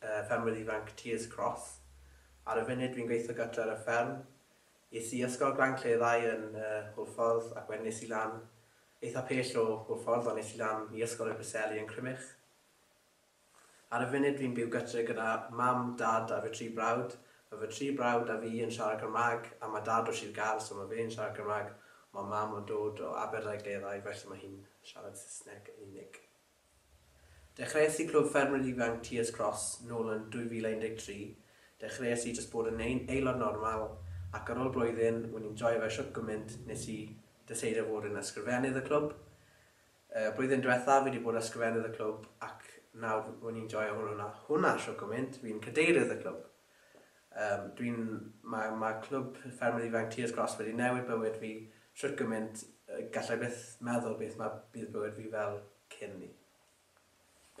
y ffermwyr ifanc Tears Cross. Ar y funud dwi'n gweithio gartre ar y fferm. Es i ysgol Glan Cleddau yn Hwlffordd ac wedyn es i lan eitha pell o Hwlffordd ond es i lan i ysgol y Preseli yn Crymych. Ar y funud dwi'n byw gytre gyda mam, dad a fy tri brawd. Mae fy tri brawd a fi yn siarad Cymraeg a mae dad o Sir Gâr so mae fe'n siarad Cymraeg ond mae mam yn dod o Aberdâi Gleddau felly mae hi'n siarad Saesneg yn unig. Dechreuais i Clwb Ffermwyr Ifanc Tears Cross nôl yn 2013, dechreuais i jyst bod yn ein aelod normal ac ar ôl blwyddyn o'n i'n joio fe shwt gymint nes i deseidio fod yn ysgrifennydd y clwb. Y blwyddyn diwetha fi di bod yn ysgrifennydd y clwb ac nawr o'n i'n joio hwnna shwt gymint, fi'n cadeirydd y clwb. Yym, dwi'n... ma' ma' Clwb Ffermydd Ifanc Tears Cross wedi newid bywyd fi shwt gymint yy gallai byth meddwl beth ma' bydd bywyd fi fel cyn 'ny.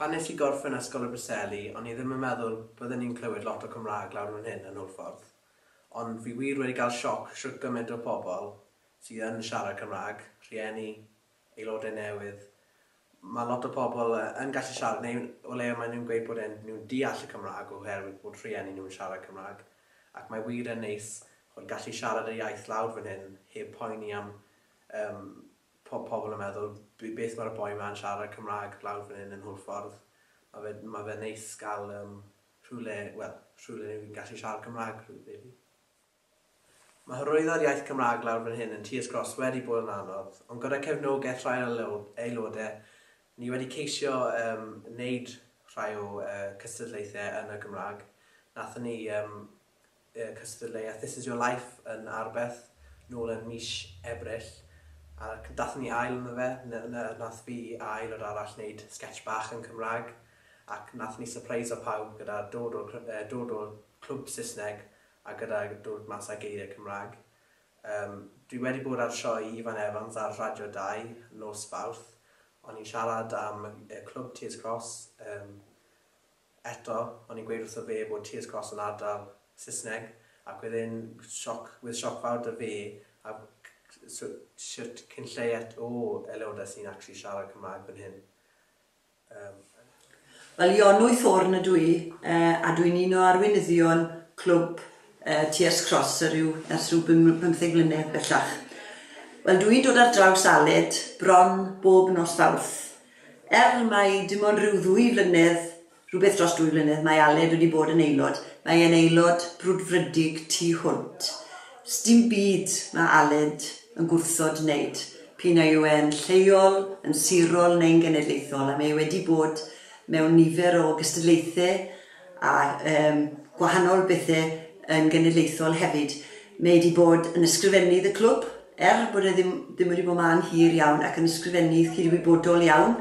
Pan nes i gorffen Ysgol y Preseli o'n i ddim yn meddwl bydden i'n clywed lot o Cymraeg lawr fan hyn yn Hwlffordd, ond fi wir wedi gael sioc shwt gyment o pobl sydd yn siarad Cymraeg, rhieni, aelodau newydd. Mae lot o pobl yn gallu siarad, neu o leia maen nhw'n gweud bod e'n nhw'n deall y Cymraeg oherwydd bod rhieni nhw'n siarad Cymraeg, ac mae wir yn neis ch'od gallu siarad y iaith lawr fan hyn heb poeni am yym po- pobl yn meddwl b- beth mae'r boi ma'n siarad Cymraeg lawr fan hyn yn Hwlffordd. Mae fe mae fe'n neis gael yym rhywle wel rhywle ni'n gallu siarad Cymraeg rili. Mae hyrwyddo'r iaith Cymraeg lawr fan hyn yn Tears Cross wedi bod yn anodd, ond gyda cefnogaeth rhai o'n aelodau, ni wedi ceisio yym wneud rhai o yy cystadlaethau yn y Gymraeg. Nathon ni yym yy cystadleuaeth This Is Your Life yn Arbeth nôl yn mis Ebrill, a c- dathon ni ail ynddo fe, na- na- nath fi a aelod arall wneud sgets bach yn Cymraeg, ac nathon ni sypreiso pawb gyda dod o'r cr- yy dod o'r clwb Saesneg a gyda dod mas â geiriau Cymraeg. Yym, dwi wedi bod ar sioe Ifan Evans ar Radio Dau nos Fawrth, o'n i'n siarad am y clwb Tears Cross, yym, eto, o'n i'n gweud wrtho fe bod Tears Cross yn ardal Saesneg, ac wedd e'n sioc, wedd sioc fawr da fe, a so, shwt cyn lleied o aelodau sy'n actually siarad Cymraeg fan hyn. Wel, Ionwy Thorne ydw i, a dwi'n un o arweinyddion clwb TS Cross ers rhyw bymtheg mlynedd bellach. Wel, dw i'n dod ar draws Aled bron bob nos Fawrth. Er mai dim ond rhyw ddwy flynedd, rhywbeth dros dwy flynedd, mae Aled wedi bod yn aelod, mae e'n aelod brwdfrydig tu hwnt. Sdim byd mae Aled yn gwrthod wneud, p'un a yw e'n lleol, yn sirol neu'n genedlaethol, a mae e wedi bod mewn nifer o gystadlaethau a yym gwahanol bethe yn genedlaethol hefyd. Mae e 'di bod yn ysgrifennydd y clwb, er bod e ddim ddim wedi bod 'ma am hir iawn, ac yn ysgrifennydd cydwybodol iawn,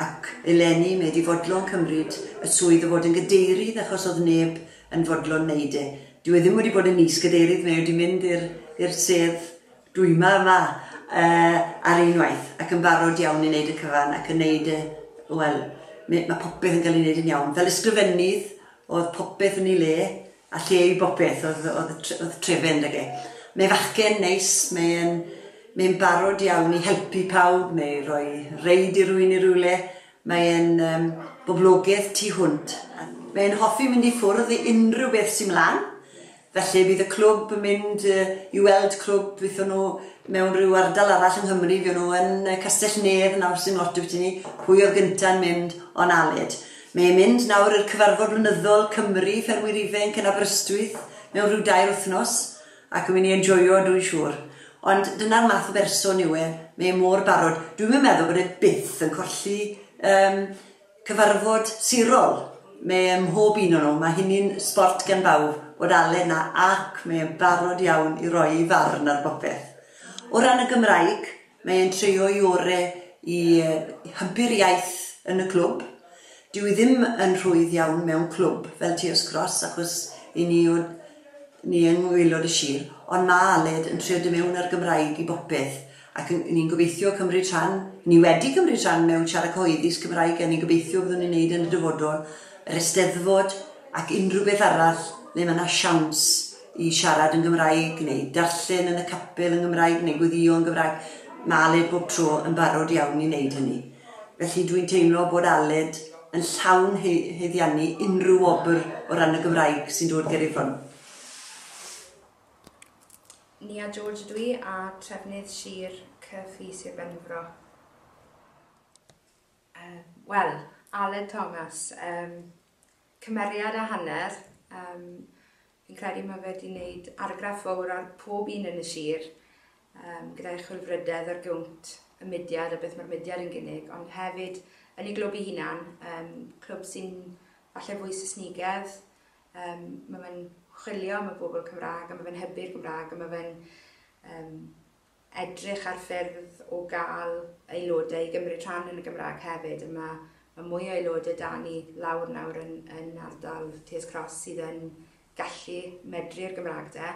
ac eleni mae e 'di fodlon cymryd y swydd o fod yn gadeirydd achos o'dd neb yn fodlon 'neud e. Dyw e ddim wedi bod yn is gadeirydd, mae wedi mynd i'r i'r sedd dwyma yma uh, ar unwaith ac yn barod iawn i wneud y cyfan ac yn wneud y, wel, mae popeth yn cael ei wneud yn iawn. Fel ysgrifennydd, oedd popeth yn ei le, a lle i bopeth, oedd, oedd, oedd trefen ag e. Mae fachgen neis, mae'n mae barod iawn i helpu pawb neu roi reid i rwy'n i rywle, Mae e'n boblogydd tu hwnt. Mae e'n hoffi mynd i ffwrdd i unrhyw beth sy 'mlan, felly bydd y clwb yn mynd i weld clwb fyddwn nhw mewn rhyw ardal arall yng Nghymru, fuon nhw yn Castell-nedd nawr sy'n lot dwyt i ni, pwy oedd gynta'n mynd o'n Aled. Mae e'n mynd nawr i'r cyfarfod blynyddol Cymru, Ffermwyr Ifainc yn Aberystwyth mewn rhyw dair wythnos. Ac yn mynd i enjoio dwi'n siŵr. Ond dyna'r math o berson yw e, mae e mor barod. Dwi'm yn meddwl bod e byth yn colli yym cyfarfod sirol. Mae e ym mhob un o nhw, mae hynny'n sbort gan bawb, bod Aled 'na ac mae e'n barod iawn i roi ei farn ar bopeth. O ran y Gymraeg, Mae e'n treio'i ore' i hybu'r iaith yn y clwb. Dyw 'i ddim yn rhwydd iawn mewn clwb fel Tears Cross achos 'yn ni yw ni yng ngwaelod y sir, ond ma' Aled yn trio do' mewn â'r Gymraeg i bopeth ac yn ni'n gobeithio cymryd rhan, ni wedi cymryd rhan mewn siarad cyhoeddus Cymraeg a ni'n gobeithio byddwn ni'n neud yn y dyfodol, yr Eisteddfod ac unrhyw beth arall le ma' 'na siawns. i siarad yn Gymraeg neu darllen yn y capel yn Gymraeg neu gweddïo yn Gymraeg. Mae Aled bob tro yn barod iawn i wneud hynny. Felly dwi'n teimlo bod Aled yn llawn he heddiannu unrhyw wobr o ran y Gymraeg sy'n dod ger ei phron. Nia George ydw i a trefnydd Sir Caerffii Sir Benfro. Um, Wel, Aled Thomas, um, cymeriad a hanner. Yym fi'n credu mae fe 'di wneud argraff fawr ar pob un yn y sir um, gyda'i chwilfrydedd ar gywnt y mudiad a beth mae'r mudiad yn gynnig, ond hefyd yn ei glwb ei hunan, um, clwb sy'n falle fwy Saesnigedd, um, mae fe'n chwilio am y bobl Cymraeg a mae fe'n hybu'r Gymraeg a mae fe'n um, edrych ar ffyrdd o gael aelodau i gymryd rhan yn y Gymraeg hefyd. A mae ma mwy o aelodau da ni lawr nawr yn, yn ardal Tears Cross sydd yn gallu medru i'r Gymraeg de.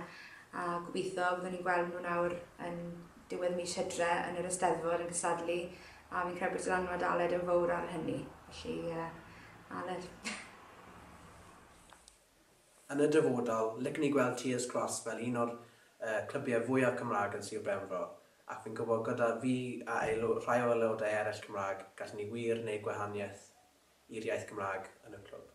A gobeithio fyddwn ni'n gweld nhw nawr yn diwedd mis hydre yn yr Eisteddfod yn cystadlu. A fi'n credu bod dylanwad Aled yn fawr ar hynny. Felly, uh, Aled. Yn y dyfodol, licen i gweld Tears Cross fel un o'r clybiau fwya Cymraeg yn Sir Benfro, ac fi'n gwybod gyda fi a rhai o aelodau eraill Cymraeg, gallen ni wir wneud gwahaniaeth i'r iaith Gymraeg yn y clwb.